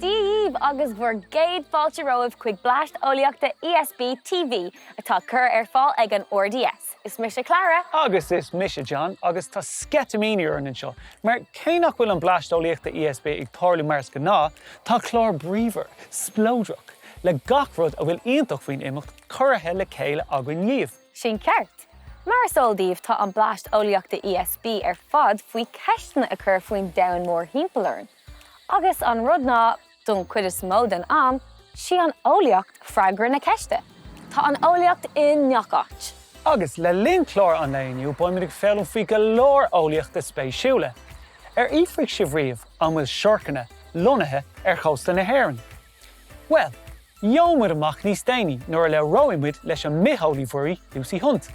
Dia dhíbh agus bhur gcéad fáilte romhaibh chuig Bleaist Eolaíochta ESB TV atá curtha ar fáil ag an RDS. Is mise Clara. Agus is mise John agus tá sceitimíní orainn anseo mar cé nach bhfuil an Bleaist Eolaíochta ESB ag tarlú mar is gnáth, tá clár bríomhar, spleodrach, le gach rud a bhfuil iontach faoin imeacht curtha le chéile againn dhíbh. Sin ceart. Mar is eol daoibh tá an Bleaist Eolaíochta ESB ar fad faoi cheisteanna a chur faoin domhan mórthimpeall orainn. Agus an rud ná, don cuid is mó den am, sí an eolaíocht freagra na ceiste. Tá an eolaíocht i ngach áit. Agus le linn clár an lae inniu beidh muid ag foghlaim faoi go leor eolaíochta spéisiúla. Ar fhiafraigh sibh riamh an bhfuil siorcanna lonnaithe ar chósta na hÉireann? Bhuel, gheobhaidh muid amach níos déanaí nuair a labhróidh muid leis an mbitheolaí mhuirí Lucy Hunt.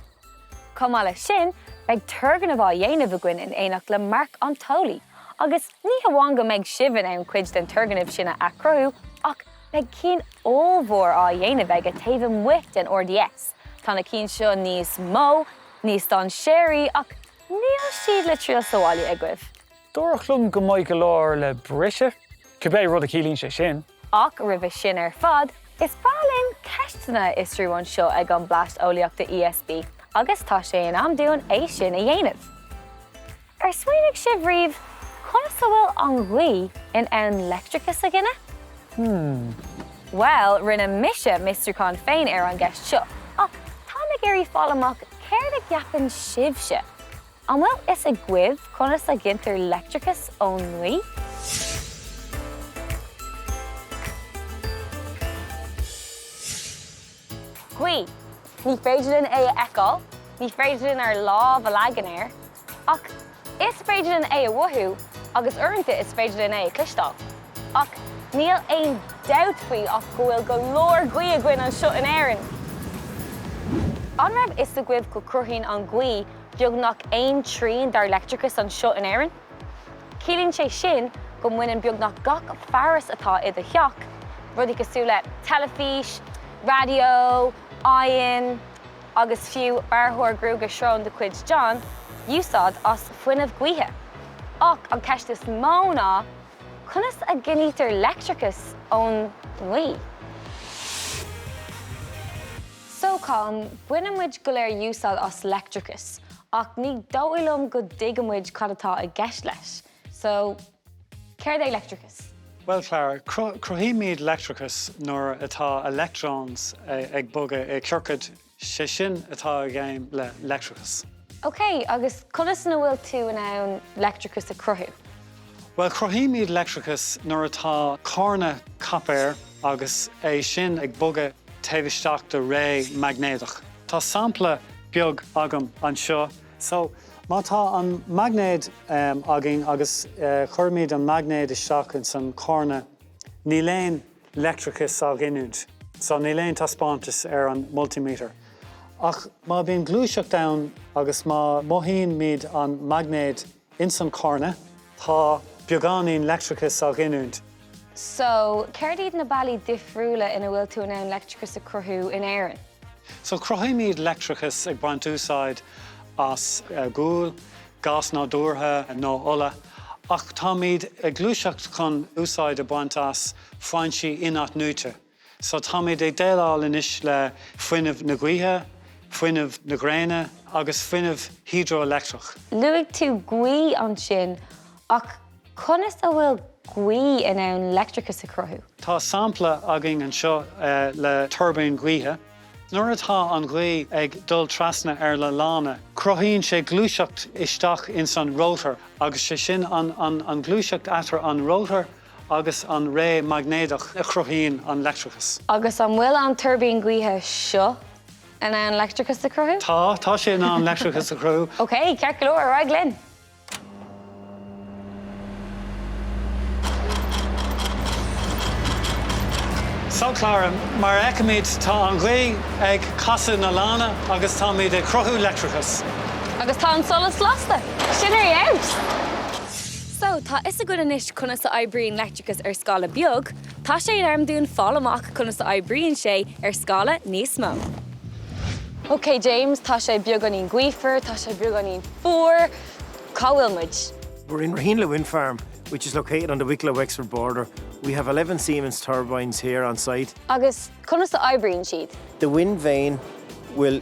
Chomh maith leis sin, beidh turgnamh á dhéanamh againn in éineacht le Marc an t-eolaí, agus ní hamháin go mbeidh sibh in ann cuid den turgnamh sin a athchruthú, ach beidh cinn ollmhór á dhéanamh aige taobh amuigh den RDS, tá na cinn seo níos mó, níos dainséaraí, ach níl siad le triail sa bhaile agaibh. Dúradh liom go mbeidh go leor le briseadh, cibé rud a chiallaíonn sé sin. Ach roimhe sin ar fad, is breá linn ceisteanna a fhiosrú anseo ag an Bleaist Eolaíochta ESB agus tá sé in am dúinn é sin a dhéanamh. Ar smaoinigh sibh riamh conas a bhfuil an ghaoth in ann leictreachas a ghineadh? Hmm. Bhuel, rinne mise m'fhiosrúchán féin ar an gceist seo, ach táim ag iarraidh fáil amach céard a cheapann sibhse. An bhfuil fhios agaibh conas a ghintear leictreachas ón ngaoth? Gaoth, ní féidir linn é a fheiceáil, ní féidir linn ár lámh a leagan air, ach is féidir linn é a mhothú agus uaireanta is féidir linn é a chloisteáil. Ach níl aon dabht faoi ach go bhfuil go leor gaoth againn anseo in Éirinn! An raibh fhios agaibh go gcruthaíonn an ghaoth beagnach aon trian dár leictreachas anseo in Éirinn. Ciallaíonn sé sin go mbaineann beagnach gach fearas atá i do theach, rudaí cosúil le teilifís, raidió, oigheann agus fiú bearrthóir gruaige sróine de chuid John, úsáid as fuinneamh gaoithe. Ach an cheist is mó ná, conas a ghintear leictreachas ón ngaoth? So Colm, baineann muid go léir úsáid as leictreachas, ach ní dóigh liom go dtuigeann muid cad atá i gceist leis. So, céard é leictreachas? Bhuel, Clara, cruthaímid leictreachas nuair atá electrons ag bogadh i gciorcaid, sé sin atá i gceist le leictreachas. Ok, agus conas a bhfuil tú in ann leictreachas a chruthú? Bhuel, cruthaímid leictreachas nuair atá corna coipéir agus é sin ag bogadh taobh isteach de réimse maighnéadach. Tá sampla beag agam anseo. So, má tá an maighnéad againn agus cuirimid an maighnéad isteach ins an chorna, níl aon leictreachas á ghiniúint. So, níl aon taispeántas ar an multimeter. Ach má bhíonn gluaiseacht ann agus má mothaímid an maighnéad, Ins an chorna tá beagáinín leictreachas á ghiniúint. So, céard iad na bealaí difriúla ina bhfuil tú in ann leictreachas a cruthú in Éirinn? So, cruthaímid leictreachas ag baint úsáid as gual, gás nádúrtha nó ola, ach táimid ag gluaiseacht chun úsáid a bhaint as foinsí in-athnuaite. So, táimid ag déileáil anois le fuinneamh na gaoithe, fuinneamh na gréine agus fuinneamh hidreoileictreach. Luaigh tú gaoth ansin, ach conas a bhfuil gaoth in ann leictreachas a chruthú? Tá sampla againn anseo le tuirbín gaoithe. Nuair atá an ghaoth ag dul trasna ar na lanna, cruthaíonn sé gluaiseacht isteach ins an rótar agus is é sin an gluaiseacht eatarthu an rótar, agus an réimse maighnéadach a chruthaíonn an leictreachas. Agus an bhfuil an tuirbín gaoithe seo in ann leictreachas a chruthú? Tá, tá sé in ann leictreachas a chruthú. OK, ceart go leor, ar aghaidh linn! So Clara, mar a fheicimid, tá an ghaoth ag casadh na lanna agus táimid ag cruthú leictreachais. Agus tá an solas lasta! Sin é é! So, tá 'fhios againn anois conas a oibríonn leictreachas ar scála beag, tá sé in am dúinn fáil amach conas a oibríonn sé ar scála níos mó. Ok James, tá sé beagáinín gaofar, tá sé beagáinín fuar, cá bhfuil muid? We're in Raheenleagh Wind Farm, which is located on the Wicklow Wexford border. We have 11 Siemens turbines here on site. Agus conas a oibríonn siad? The wind vane will.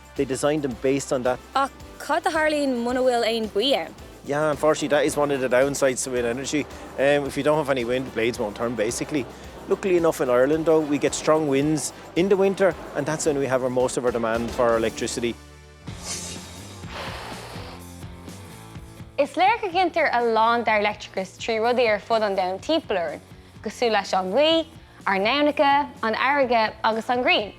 They designed them based on that. Ach cad a tharlaíonn muna bhfuil aon baoi ann? Yeah, unfortunately that is one of the downsides to wind energy. Um, if you don't have any wind, the blades won't turn basically. Luckily enough in Ireland though, we get strong winds in the winter and that's when we have our most of our demand for our electricity. Is léir go gcinntear a lán dar leictricas trí rudaí ar fud an domhan timpeall orainn, cosúil leis an ngaoth, ár n-aibhneacha, an fharraige agus an ghrian.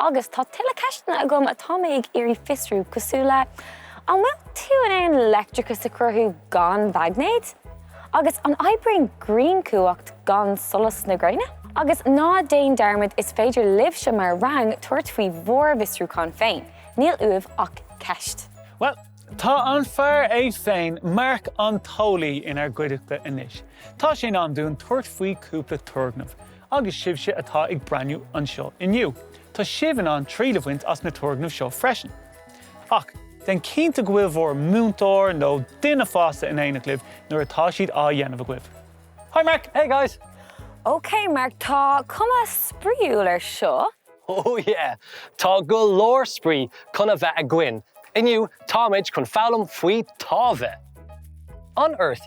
Agus tá tuilleadh ceisteanna agam atá mé ag iarraidh fiosrú, cosúil le, An bhfuil tú in ann leictreachas a chruthú gan mhaighnéad? Agus An oibríonn grianchumhacht gan solas na gréine? Agus ná déan dearmad, is féidir libhse mar rang tabhairt faoi bhur bhfiosrúcháin féin, níl uaibh ach ceist. Bhuel, tá an fear é féin, Mark an tEolaí, inár gcuideachta anois. Tá sé in am dúinn tabhairt faoi chúpla turgnamh. Agus sibhse atá ag breathnú anseo inniu, tá sibh in ann triail a bhaint as na turgnaimh seo freisin. Ach, déan cinnte go bhfuil bhur múinteoir nó duine fásta in éineacht libh nuair atá siad á dhéanamh agaibh. Hi Mark! Hey guys! OK Mark, tá cuma spraíúil ar seo! Oh yeah! Tá go leor spraoi chun a bheith againn. Inniu, táimid chun foghlaim faoi táimhe. On Earth,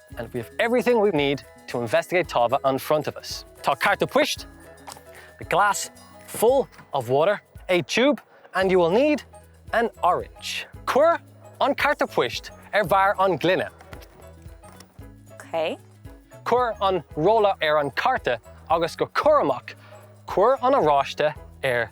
and we have everything we need to investigate táimhe in front of us. Tá carta poist, a glass full of water, a tube, and you will need an orange. Cuir an carta poist ar bharr an gloine. Okay. Cuir an rolla ar an carta agus go curamach cuir an oráiste ar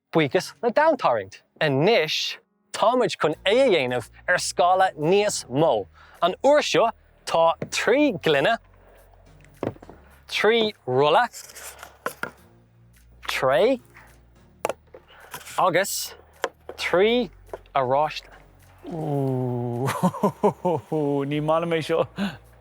Buíochas le domhantarraingt, anois táimid chun é a dhéanamh ar scála níos mó. An uair seo tá trí ghloine, trí rolla, tray agus trí oráiste. Oooh, ní maith liom é seo!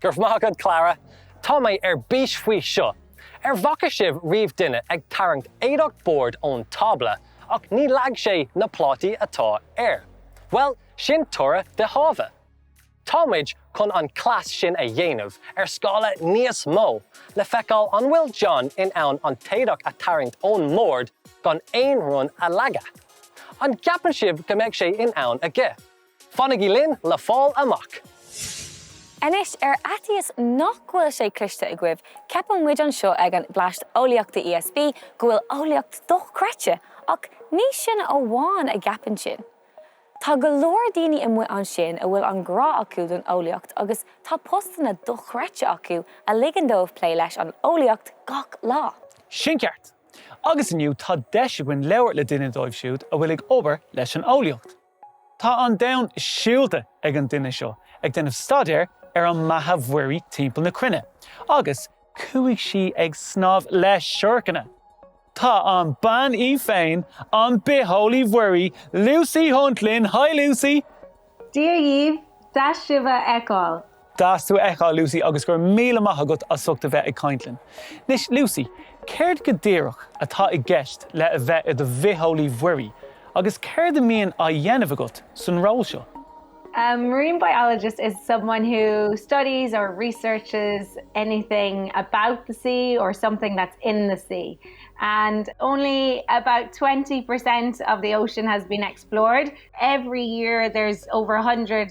Go raibh maith agat, Clara. Tá mé ar bís faoi seo! An bhfaca sibh riamh duine ag tarraingt éadach boird ón tábla ach ní leag sé na plátaí atá air? Bhuel, sin toradh de tháimhe! Tá muid chun an cleas sin a dhéanamh ar scála níos mó le feiceáil an bhfuil John in ann an t-éadach a tarraingt ón mbord gan aon rud a leagadh. An gceapann sibh go mbeidh sé in ann aige? Fanaigí linn le fáil amach! Anois, ar fhaitíos nach bhfuil sé cloiste agaibh, ceapann muid anseo ag an Bleaist Eolaíochta ESB go bhfuil eolaíocht dochreidte, ach ní sinne amháin a gceapann sin. Tá go leor daoine amuigh ansin a bhfuil an grá acu don eolaíocht agus tá postanna dochreidte acu a ligeann dóibh plé leis an eolaíocht gach lá. Sin ceart! Agus inniu tá deis againn labhairt le duine díobh siúd a bhfuil ag obair leis an eolaíocht. Tá an domhan siúlta ag an duine seo ag déanamh staidéir ar an mbeatha mhuirí timpeall na cruinne agus chuaigh sí ag snámh le siorcanna! Tá an bean í féin, an bitheolaí mhuirí, Lucy Hunt linn, haigh Lucy! Dia dhaoibh! Deas sibh a fheiceáil! Deas tú a fheiceáil, Lucy, agus go raibh míle maith agat as ucht a bheith ag caint linn. Anois, Lucy, céard go díreach atá i gceist le a bheith i do bhitheolaí mhuirí, agus céard a mbíonn á dhéanamh agat san ról seo? A marine biologist is someone who studies or researches anything about the sea or something that's in the sea. And only about 20% of the ocean has been explored. Every year there's over 100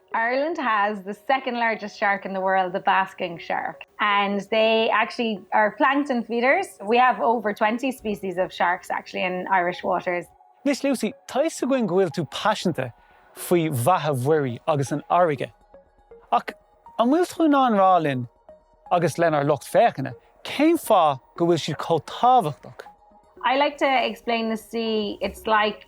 Ireland has the second largest shark in the world, the basking shark, and they actually are plankton feeders. We have over twenty species of sharks actually in Irish waters. Anois Lucy, tá fhios againn go bhfuil tú paiseanta faoi bheatha mhuirí agus an fharraige. Ach an bhfuil tú in ann rá linn agus lenár lucht féachana cén fáth go bhfuil siad chomh tábhachtach? I like to explain the sea, it's like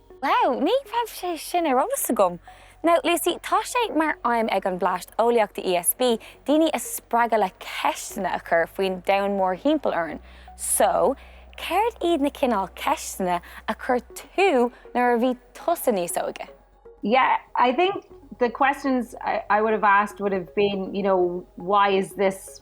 Wow, ní raibh sé sin ar eolas agam! Now, Lucy, tá sé mar aidhm ag an Bleaist Eolaíochta ESB daoine a spreagadh le ceisteanna a chur faoin domhan mórthimpeall orainn. So, céard iad na cineál ceisteanna a chuir tú nuair a bhí tusa níos óige? Yeah, I think the questions I would have asked would have been, you know, why is this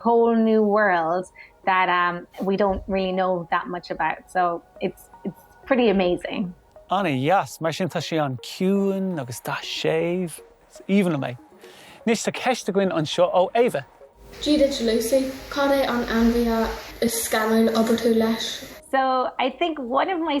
whole new world that we don't really know that much about so it's it's pretty amazing. Ana dheas! Mar sin tá sé an-chiúin agus tá sé séimh. Is aoibhinn liom é. Anois tá ceist againn anseo ó Ava. Dia duit Lucy. Cad é an ainmhí is scanrúla a d'obair tú leis? So I think one of my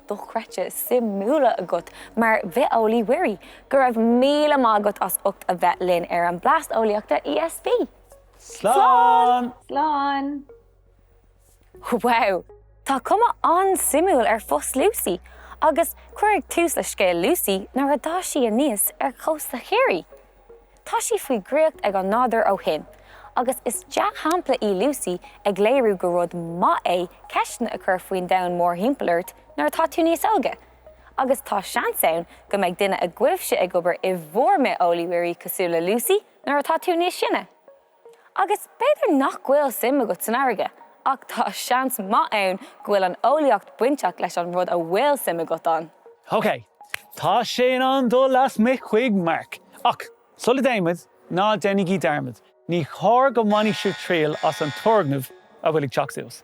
dochreidte suimiúla agat mar bhitheolaí muirí. Go raibh míle maith agat as ucht a bheith linn ar an Blast Eolaíochta ESB. Slán! Slán! Wow! Tá cuma an-suimiúil ar phost Lucy agus cuireadh tús le scéal Lucy nuair a d'fhás sí aníos ar chósta Chiarraí. Tá sí faoi dhraíocht ag an nádúr ó shin agus is dea-shampla í Lucy ag léiriú gur rud maith é ceisteanna a chur faoin domhan mórthimpeall ort nuair atá tú níos óige. Agus tá seans ann go mbeidh duine agaibhse ag obair i bhur mbitheolaí muirí cosúil le Lucy nuair atá tú níos sine. Agus b'fhéidir nach bhfuil suim agat san fharraige, ach tá seans maith ann go bhfuil an eolaíocht bainteach leis an rud a bhfuil suim agat ann. Ok, tá sé in am dul lasmuigh chuig Mark. Ach, sula dtéimid, ná déanaigí dearmad, ní chóir go mbainfidh sibh triail as an turgnamh a bhfuil ag teacht suas.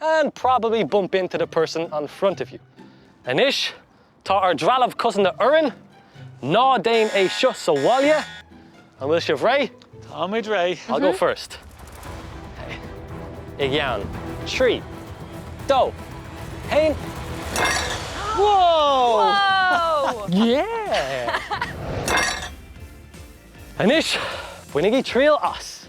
and probably bump into the person on front of you. Anois, tá ár dtrealamh cosanta orainn, ná déan é seo sa bhaile. An bhfuil sibh réidh? Táimid réidh. I'll go first. I gceann. Trí. Dó. Haon. Whoa! Whoa! Yeah! Anois, bainigí triail as.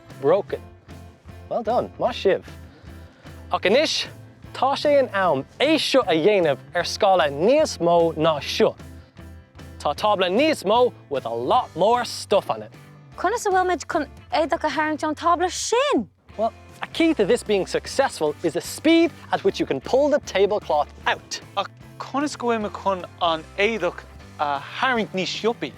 Broken. Well done. Maith sibh. Ach anois tá sé in am é seo a dhéanamh ar scála níos mó ná seo. Tá tábla níos mó with a lot more stuff on it. Conas a bhfuil muid chun éadach a tharraingt ón tábla sin? Well, a key to this being successful is the speed at which you can pull the tablecloth out. Ach conas go bhfuil muid chun an éadach a tharraingt níos sciobtha?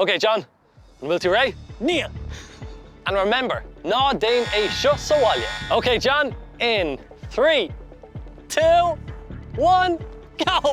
OK John, an bhfuil tú réidh? Níl! And remember, ná déin é seo sa bhaile! OK John, in three, two, one, go!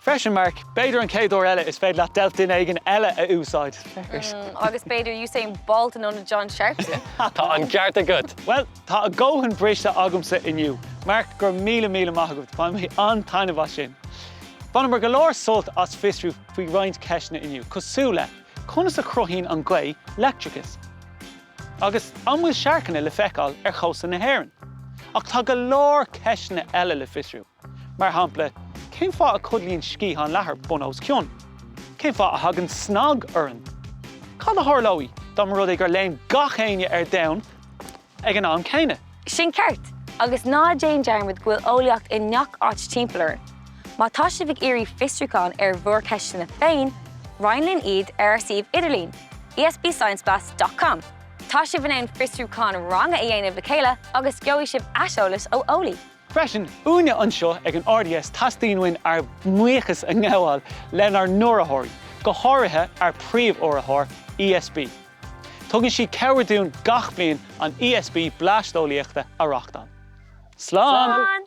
Freisin, Mark, b'fhéidir an chéad uair eile is féidir leat deilf duine éigin eile a úsáid. Agus b'fhéidir Usain Bolt in ionad John Sharpson. Tá an ceart agat! Bhuel, tá a dhóthain briste agamsa inniu. Mark, go raibh míle míle maith agat, bhain mé an-taitneamh as sin. Bhaineamar go leor sult as fiosrú faoi roinnt ceisteanna inniu, cosúil le, conas a chruthaíonn an ghaoth leictreachas? Agus, an bhfuil siorcanna le feiceáil ar chósta na hÉireann? Ach tá go leor ceisteanna eile le fiosrú! Mar shampla, cén fáth a codlaíonn sciathán leathair bun os cionn? Cén fáth a thagann snag orainn? Cad a tharlóidh dá mba rud é gur léim gach éinne ar domhan ag an am céanna? Sin ceart! Agus ná déan dearmad go bhfuil eolaíocht i ngach áit timpeall orainn. Má tá sibh ag iarraidh fiosrúchán ar bhur ceisteanna féin, roinn linn iad ar ár suíomh idirlín, esbscienceblast dot com. Tá sibh in ann fiosrúchán ranga a dhéanamh le chéile agus gheobhaidh sibh aiseolas ó eolaí. Freisin, uainne anseo ag an RDS teastaíonn uainn ár mbuíochas a ngabháil lenár n-urraitheoirí, go háirithe ár príomh-urraitheoir, ESB. Tugann siad cabhair dúinn gach bliain an ESB Blast Eolaíochta a reachtáil. Slán!